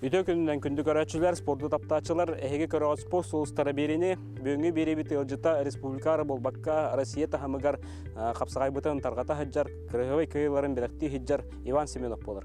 Үтө күнүнэн күндү көрөөччүлэр, спорду таптааччылар, эһиги көрөҕүт спорт сулустара биэриини бүгүҥҥү биэриэбит ыалдьыта республикаҕа буолбакка Россия таһымыгар хапсаҕайбытын тарҕата сылдьар, кыраһыабай кыайыыларын бэлэхтии сылдьар Иван Семенов буолар.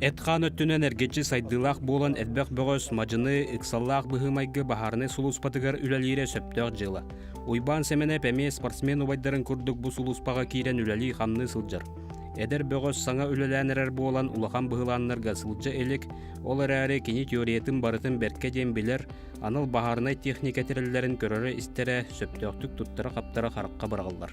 Эт-хаан өттүнэн эргиччи сайдыылаах буолан элбэх бөҕөс, мадьыны, ыксаллаах быһыы-майгы баһаарынай сулууспатыгар үлэлиирэ сөптөөх дьыала. Уйбаан Сэмэнэп эмиэ спортсмен убайдарын курдук бу сулууспаҕа киирэн үлэлии-хамныы сылдьар. Эдэр бөҕөс саҥа үлэлээн эрэр буолан улахан быһылааннарга сылдьа илик, ол эрээри кини теориятын барытын бэркэ диэн билэр, анал баһаарынай техника тэриллэрин көрөрө-истэрэ сөптөөхтүк туттара-хаптара харахха быраҕыллар.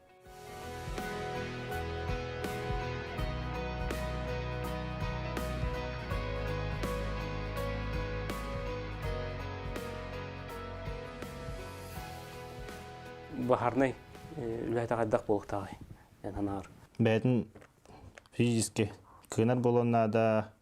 баһарнай үлэһитэ хайдах буолуктааҕый эн санааҕар бэйэтин физически кыынар буолан наада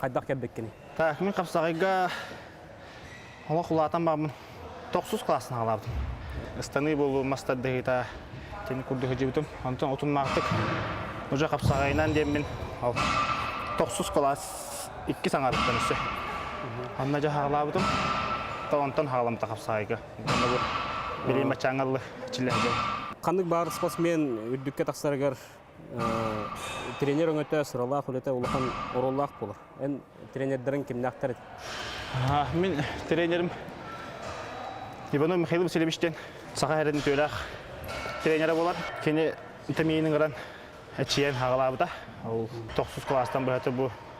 Хайдах кэлбиккиний? Так, мин хапсаҕайга олох улаатан барбын. Тохсус класстан аҕалабытым. Ыстаныы буолуу мас тардыһыыта итини курдук сылдьыбытым. Онтон утумнаахтык уже хапсаҕайынан диэммин тохсус кылаас иккис аҥарыттан өссө онно дьэ хаалаабытым. Онтон хаалымта хапсаҕайга. Онно бу билим ачаангалы чиллэһэ дьон. Ханнык баар спортсмен үрдүккэ тахсарыгар тренер өҥөтө сыралаах үлэтэ улахан оруоллаах буолар эн тренердэрин кимнээхтэр этиҥ мин тренерим иванов михаил васильевич диэн саха эрин үтүөлээх тренерэ буолар кини тэмиинин ыран эчийэн аҕалаабыта ол тохсус кылаастан быһата бу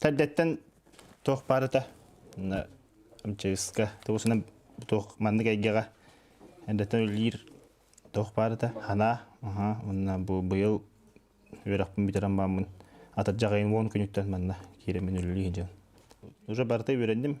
Тардеттан туох баарыта амчайыска тугусуна туох маннык эйгэҕэ эрдэтэ үлэлиир туох баарыта ханаа уонна бу быйыл үөрэхпин бүтэрэн бааммын атырдьах ыйын уон күнүттэн манна киирэммин үлэлии сылдьабын. Уже барыта үөрэнним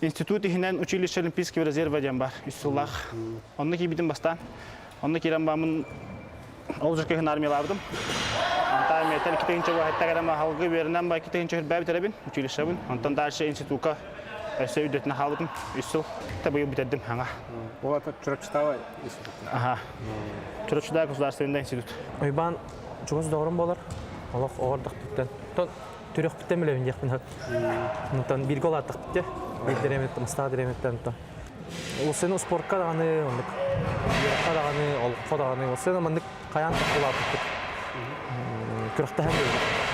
Институт иһинэн училище Олимпийского резерва диэн бар үс сыллаах. Онно киирбитим бастаан. Онно киирэн бааммын ол жиркөһүн армиялаабытым. Анта армията икки тыһынча убаһыттак эрэ ахалгы үөрүнэн ба икки тыһынча үрбээбит эрэбин училищебын. Онтон дальше институка өссө үрдөтүнэ хаалбытым. Үс сыл та быйыл битердим хаҥа. Ол ата Чурачтава институт. Аха. Чурачда государственный институт. Уйбаан чугас доҕорум буолар. Олох оҕордохтуттан. Түрөхпүттэн мүлэбин диэхпин хат. Онтон бииргэ улааттахпыт Биирдэр эмиттэн, Мастаа дреметтен онтон. Улуссаны успуорка даҕаны, маннык үөрэххэ даҕаны, олоххо даҕаны, улуссаны маннык хайаан улааппыппыт. Күрэхтэһэн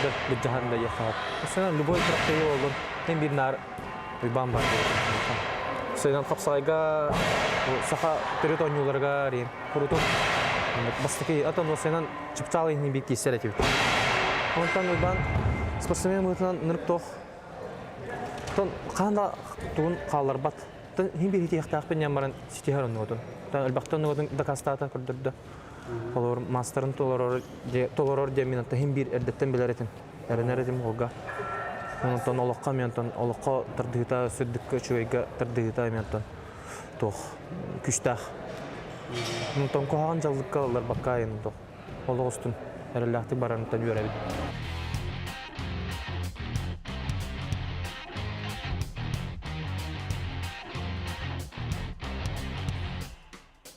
да былдьаһан да иэххэҕэр. Улуссаны любой күрэхтэһии буоллун, эн биир наар Уйбаан баар диэбитим. Сайдан хапсайга саха төрүт оонньууларга ариен курутун бастакы атын улуссанан чыпчаал иһини биир киирсэр этибит. Онтон Уйбаан спортсмен быһыытынан нырктоох. Оттон хаһан да тугун хаалларбат. Оттон иһин биэритиэхтээхпин диэн баран ситиһэр оннугутун. Оттон элбэхтэ оннугутун дакаастаатан көрдөрдө. Холоор маастарын толорор толорор диэн мин оттон иһин биир эрдэттэн билэр этим. Эрэнэр этим голга. Онтон олохха мен оттон олоххо тардыһыта сүрдүккэ үчүгэйгэ тардыһыта мен оттон туох күштээх. Тоҥкоһоҕон дьаллыкка ылларбакка айан туох олох устун эрэллээхтик барарыттан үөрэбит.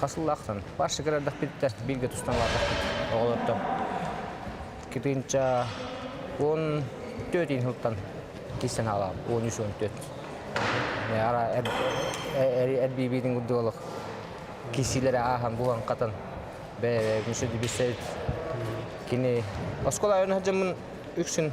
Хас сыллаахтан парша кырардахпыттар, бииргэ тустан ылаатахпыт оҕолортон. Китинча он төрт сылтан кистен хаалам, он үс он төрт. Ара эрбиибиитин курдук олох киссиилэри аахан булан хатан бэйэ-бэйэбин сөдүбүссэбит. Кини оскуола айан сылдьаммын үксүн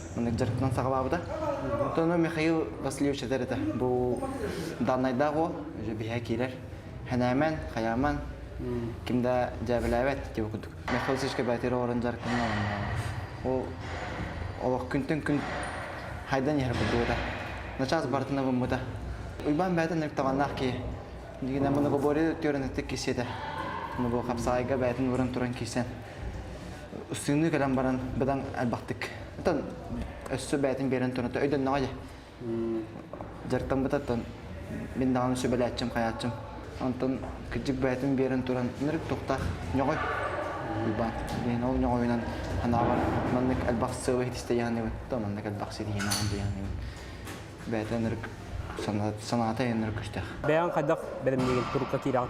Маннык дьарыктан саҕалаабыта. Оттон Михаил Васильевич этэр этэ, бу даннайдаах уол биһиэхэ киирэр. Хэнээмэн, хайааман, ким да дьээбэлээбэт диэбит курдук. Михаил Васильевичка бэлэтиир оҕолорун дьарыктанан оонньооно. Ол олох күнтэн күн хайдан иһэр бурдугата. Начаас барытына быммыта. Уйбаан бэйэтин эртаҕаннаах киһи. Дигинэ мунугобори түөрэнэттик киссиэтэ. Муну хапсаайга бэйэтин выран туран киирсэн Ыстыыныы кэлэн баран бадан элбэхтик. Оттон өссө бээтин биэрэн турната өйдөннөҕө дьэ. Дьартан бытаттан мин даҕаны сүбэлээччим, хайааччым. Онтон кырдьык бээтин биэрэн туран нырык туохтаах ньоҕой. Уйбаан. Диэн ол ньоҕойунан санаабар маннык элбэх сыалы хитистэйэ саныыбын. То маннык элбэх ситиһиинааҕын дьайа саныыбын. Бээтэ нырык санаата өйө нырык көстөөх. Бэйэҥ хайдах бэлэмниигин турукка киирэҕин?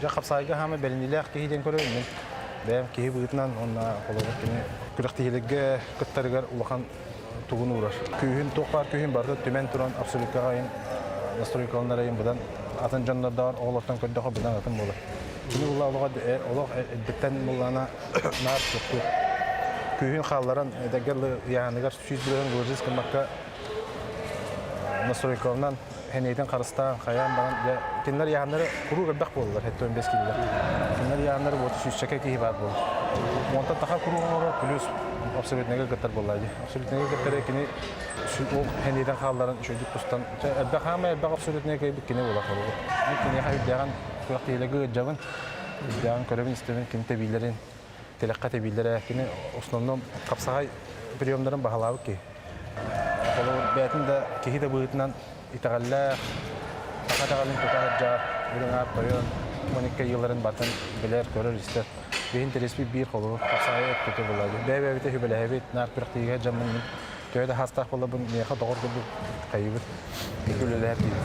Дьэ, хапсаайга хаама бэриниилээх киһи диэн көрөбүн мин. Бэйэм киһи быһыытынан уонна, холобур, кини күрэхтэһиилэргэ кыттарыгар улахан тугун уурар. Күүһүн, туох баар күүһүн барыта түмэн туран абсолютка аҕайын настройкаланарыйын быдан атын дьоннордоох оҕолортон көрдөхө быдан атын буолар. Кини улла олоҕо олох эрдэттэн муллаана наар суохтуур. Күүһүн хаалларан эдэргэ ыйааһыныгар сүүс бүрөһүн ложист гыммакка настройкаланан Хэнэйдэн харыстаан, хайаан баран, дьэ, кинилэр ыйааһыннары куруук элбэх буоллулар, сэттэ он бэс киилэлэр. Кинилэр ыйааһыннары уоту сүүсчэкэ киһи баар буолар. Уонтан таха куруук оҥорор, плюс обсолютнайга кыттар буолла дии. Обсолютнайга кыттары кини ол хэнэйдэн хаалларан үчүгэйдик тустан, чэ, элбэх хаамай, элбэх обсолютнайга кэлбит кини буолар соругу. Киниэхэ үрдээҕин, күрэхтэһиилэргэ ыырдьабын, үрдээҕин көрөбүн-истэбин, ким тэбиилэрин, тилэххэ тэбииллэрэ кини основно хапсаҕай приемдарын баһылаабыт киһи холобур бээтин да киһи да быһыытынан итэҕэллээх саха итэҕэлин тута сылдьар үрүҥ аар тойон маникка ыйыларын батын билэр көрөр истэр биһин тириспит биир холобур хапсаҕай өттүтэ булабыт бэйэ-бэйэбитэ хүбэлэһэбит наар күрэхтиигэ дьаммыннын төһө да хаастаах болобун миэхэ доҕор курдук хайыбыт үлэлэһэр диибит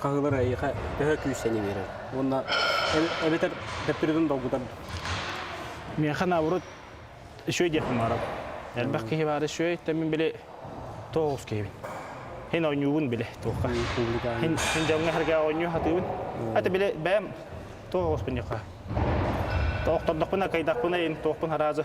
хаһыылар эйиэхэ төһө күүстэни биэрэр уонна эбэтэр төттөрүтүн долгутарбыт миэхэ наоборот үчүгэй диэхпин баҕарабын элбэх киһи баара үчүгэй мин били туох оҕус киһибин син оонньуубун били туохха син дьоҥҥо эргэ оонньуу сатыыбын это били бэйэм туох оҕуспун диэххэ охтордохпуна кыйдахпына ин туохпун араазы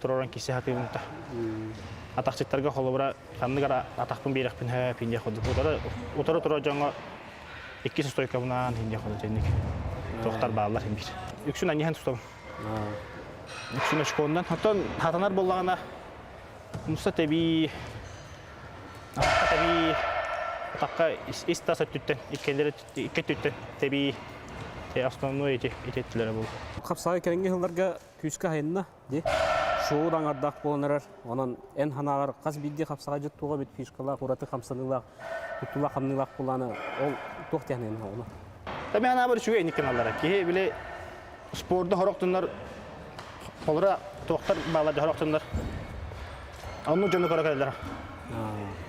тураран киирсэ сатыыбын да атахчыттарга холобура ханнык эрэ атахпын биэрэхпин һэ пиндиэх курдук утары-утары дьоҥҥо иккис устойкабынаан пиндиэх курдук итинник туохтар бааллар биир үксүн аньыһан тутабын үксүн очконунан оттон сатанар буоллаҕына муста тэбии атахха тэбии атахха ис тас өттүттэн иккилэр икки өттүттэн тэбии основной эти ити өттүлэрэ буолла хапсаҕай кэлиҥҥи сылларга күүскэ хайынна Ди шоу да аңардаах буолан эрэр. Онон эн ханааҕар хас биирдии хапсаҕайдьыт туох эбит фишкалаах, ураты хамсаныылаах, туттулаах-хамныылаах куллаана ол туох технигын оҕолор? Эми анаабар үчүгэй никаналлара. Киһи били спорда хорохтуннар холура туохтар бааллада хорохтуннар. Онну дьону көрө кэлэллэр.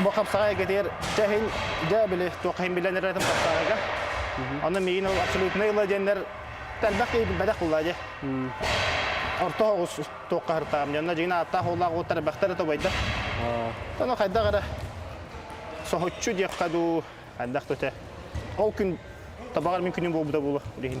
Бу хапсаҕайгытыгар чэһин, дьэ били туоххаһын билэн эрэтим хапсаҕайга. Аны миигин ол абсолютнай ыла диэннэр тарбах киһи билбэтэх булла дьэ. Орто оҕус туохха хартаам дьонно дьиҥин ааттаах уоллаах уот тарбахтар это убайда. Ону хайдах эрэ соһуччу диэххэ дуу, хайдах да өтө. Ол күн табаҕар мин күнүм буолбута буолуо. Билигин.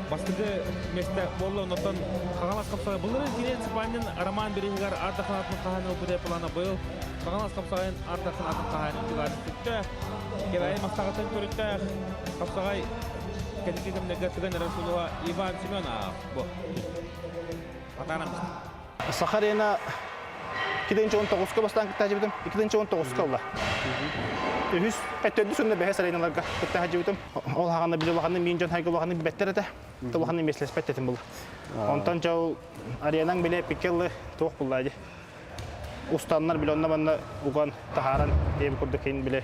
бастакы миэстэ буолла оннуттан хаҥалас хамсаҕай былырыын киниэн сыпаанньын роман береһигар ардакхан атын хаһаайын ылбыта плана быйыл хаҥалас хамсаҕайын ардакхан атын хаһаайын ылаары сүттэ кэбээйи мастаҕатын көрүттээх хамсаҕай кэнники кэмнэргэ тыган эрэр сулуһа иван семенов бу хатанаммыт Саха арена 2019-ка бастаан кыттаачыбытым, 2019-ка ылла. Үһүс, төрдүс уонна бэһис ареналарга кыттаачыбытым. Ол хаҕана били улаханнык миин дьон хайга улаханнык билбэттэр этэ. Улаханнык миэстэлэспэт этим было. Онтон дьау аренаҥ били эпикке ылы туох булла дьи. Устаннар били онно манна уган таһааран эб курдук кин били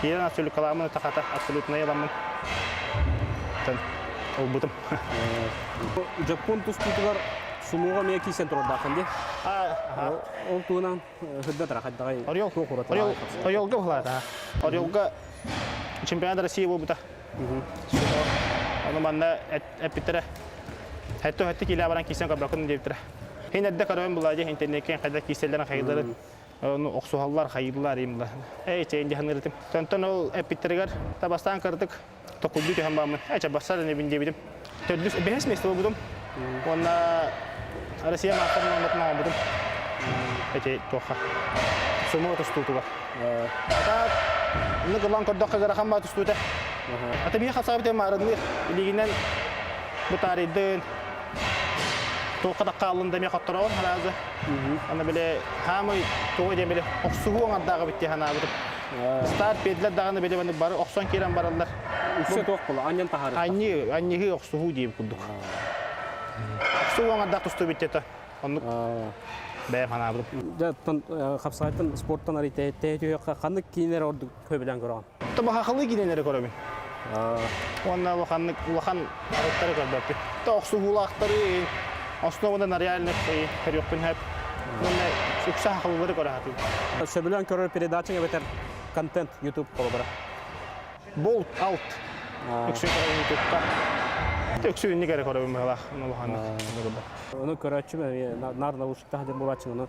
Киирэн абсолюткаламмын это хата абсолютнай аламмын ылбытым. Дьоппуон тустуутугар сумуоҕа эмиэ киирсэн турардаахын ди? Ол туһунан сырдатара хайдаҕай? Орелга бухалата. Орелга чемпионат России буолбута. Ону манна эппиттэрэ. Хэтте хэтте киилэ баран киирсэн көрбөккүн диэбиттэрэ. Хин эрдэ көрөйөн булади интернетке хайда киирсэллэрин хайдыларын Ону охсуһаллар, хайыыллар имлаһын. Эй, чэйин дьаһаныырытым. Төнтөн ол эппиттэригэр табастаан кырдык токулдуу түһэн бааммын, эчэ барсар энэбин диэбитим. Төрдүс бэһис место буолбутум. Уонна Россия маастар номерин оҥорбутум. Эчи туохха. Сумма тустуутугар. Атаат, ну кылан көрдөххө гырахан баа тустуута. Аты биһи хапсаабытым арынныыр. Илигинэн бутаарыйдын, туохха да хааллын да эмиэ хоттороҕун хараазы аны били хаамай тоҕо диэн били охсуһуу оҥордааҕы бит санаабытым старт биэрдилэр даҕаны били баны бары охсон киирэн бараллар үссе туох була анньан таһаарыт анньыы анньыһыы охсуһуу диир курдук охсуһуу оҥордаах тусты бүттэ оннук бэйэм санаабытым дьэ хапсаҕайтан спорттан арыйтай тэйэ түһүөххэ ханнык киинэр ордук көбүлэн көрөҕүн. Тобахахылыы киинэлэри көрөбүн. Уонна улаханнык улахан арыттары көрбөппүн. То охсуһуулаахтары, основадан реальных көрүөхпүн сөп. Уонна укса хахылылары көрө сатыыбын. Сөбүлээн көрөр передачаң эбэтэр контент YouTube холобура. Болт алт. Үксүн көрөбүн YouTube'ка. Үксүн инник эрэ көрөбүн быһылаах улаханнык. Ону көрөөччүм нар наушниктаах диэн буолааччын, ону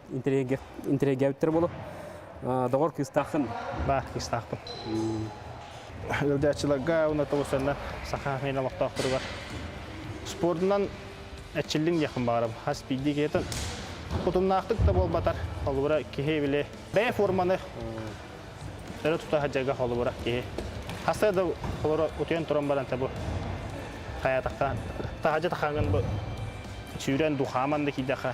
интригээбиттэр болу доҕор кыыстааххын ба кыыстаахпын ыалдьааччыларга уна тоҕуссанна саха мен олохтоохторугар спордунан эчиллин диэхпин баҕарабын хас биирдии киэтин кутумнаахтык да буолбатар холобура киһи били бэйэ форманы өрө тута садьарга холобура киһи хасса да холоро утуйан туран баран табу хаятахха таһажа тахаангын бу сүүрэн духааман да кийдэхэ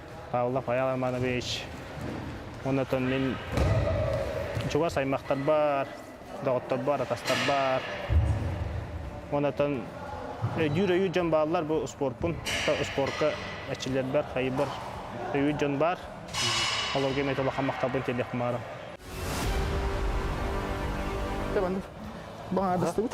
Павлов Айал Романович уонна оттон мин чугас аймахтарбар, доҕотторбор, атастарбар уонна оттон өйдүүр-өйүүр дьон бааллар бу спорпун спорка эчилэрбэр хайбар өйүүр дьон баар олорго эмит улахан махталбын тиэрдиэх бумаарым баҕаардыстыбыт